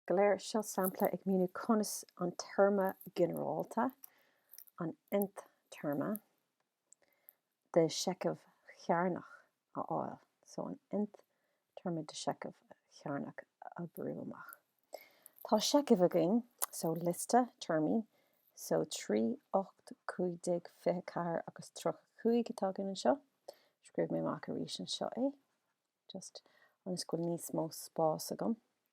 Go léir seo sampla ag míniú conas an téarma ginearálta, an nth téarma, de sheicheamh chearnach a fháil. So an nth téarma de sheicheamh chearnach a oibriú amach. Tá seicheamh againn, so liosta téarmaí, so 3, 8, 15, 24 agus 35 atá againn anseo. Scríobh mé amach arís anseo é, just ionas go bhfuil níos mó spás agam.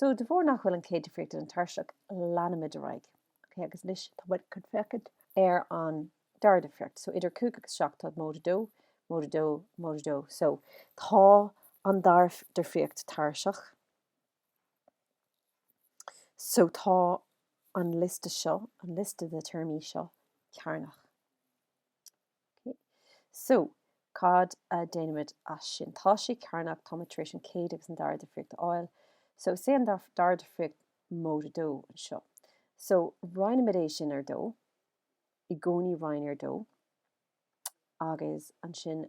So, de bharr nach bhfuil an chéad difríocht ina tairiseach, leanaimid ar aghaidh. Okay, agus anois tá muid chun féachaint ar an dara difríocht. So, idir 5 agus 7 tá móide 2, móide 2, móide 2. So, tá an dara difríocht tairiseach. So, tá an liosta seo, an liosta de na téarmaí seo cearnach. Ok, so, cad a dhéanaimid as sin? Tá sé cearnach, táimid tar éis an chéad agus an dara difríocht a fháil. So, is é an dara difríocht móide 2 anseo. So, roinnimid é sin ar dó, i gcónaí roinn ar dó, agus ansin,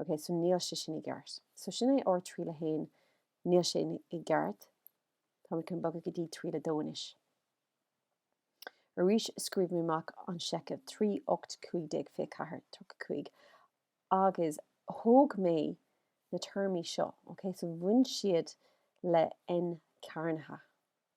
Ok, so níl sé sin i gceart. So sin é ár triail a haon, níl sé i gceart, táimid chun bogadh go dtí triail a dó anois. Arís scríobh mé amach an seicheamh, 3, 8, 15, 24, 35, agus thóg mé na téarmaí seo, ok, so baineann siad le N cearnaithe.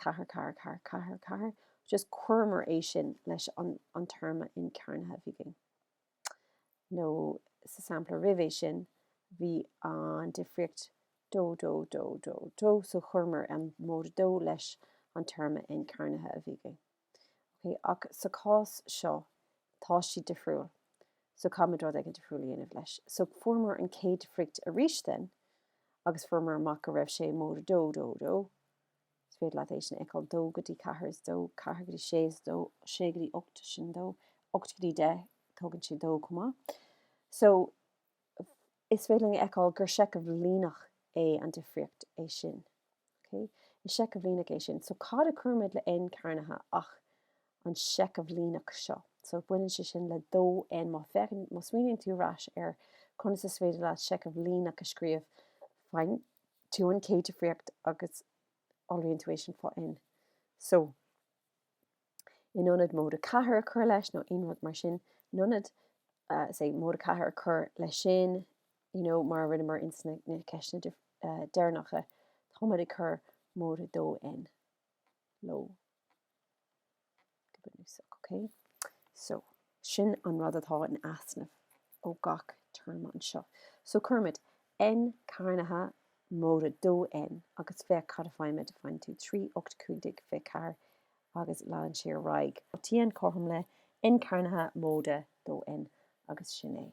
Ceathair, ceathair, ceathair, ceathair, ceathair, just chuireamar é sin leis an an téarma n cearnaithe a bhí againn. nó sa sampla roimh é sin, bhí an difríocht dó, dó, dó, dó, dó, so chuireamar an móide dó leis an téarma n cearnaithe a bhí againn. Ok, ach sa chás seo, tá siad difriúil, so caithfimid rud éigin difriúil a dhéanamh leis. So fuaireamar an chéad difríocht arís then, agus fuaireamar amach go raibh sé móide dó, dó, dó, Is féidir leat é sin a fheiceáil, 2 go dtí 4 is 2, 4 go dtí 6 is 2, 6 go dtí 8 sin 2, 8 go dtí 10 tugann sé 2 chomh maith. So, is féidir linn a fheiceáil gur seicheamh líneach é an difríocht é sin. Okay? Is seicheamh líneach é sin. So, cad a chuirimid le n cearnaithe ach an seicheamh líneach seo. So, baineann sé sin le 2n. Má, má smaoiníonn tú ar ais ar conas is féidir leat seicheamh líneach a scríobh, tú an chéad difríocht agus iolraíonn tú é sin faoi N. So, in ionad móide 4 a chur leis nó aon rud mar sin, in ionad uh, say, móide 4 a chur leis sin, you know, mar a rinneamar ins na, na ceisteanna uh, eh, deirnacha, táid ag chur mód 2 N. Lo. So, sin an rud atá in easnamh ó gach téarma anseo. So, cuirimid N cearnaithe móide 2N agus féach cad a faighimid. Faigheann tú 3, 8, 15, 24 agus leanann sé ar aghaidh go dtí N cothrom le N cearnaithe móide 2N agus sin é.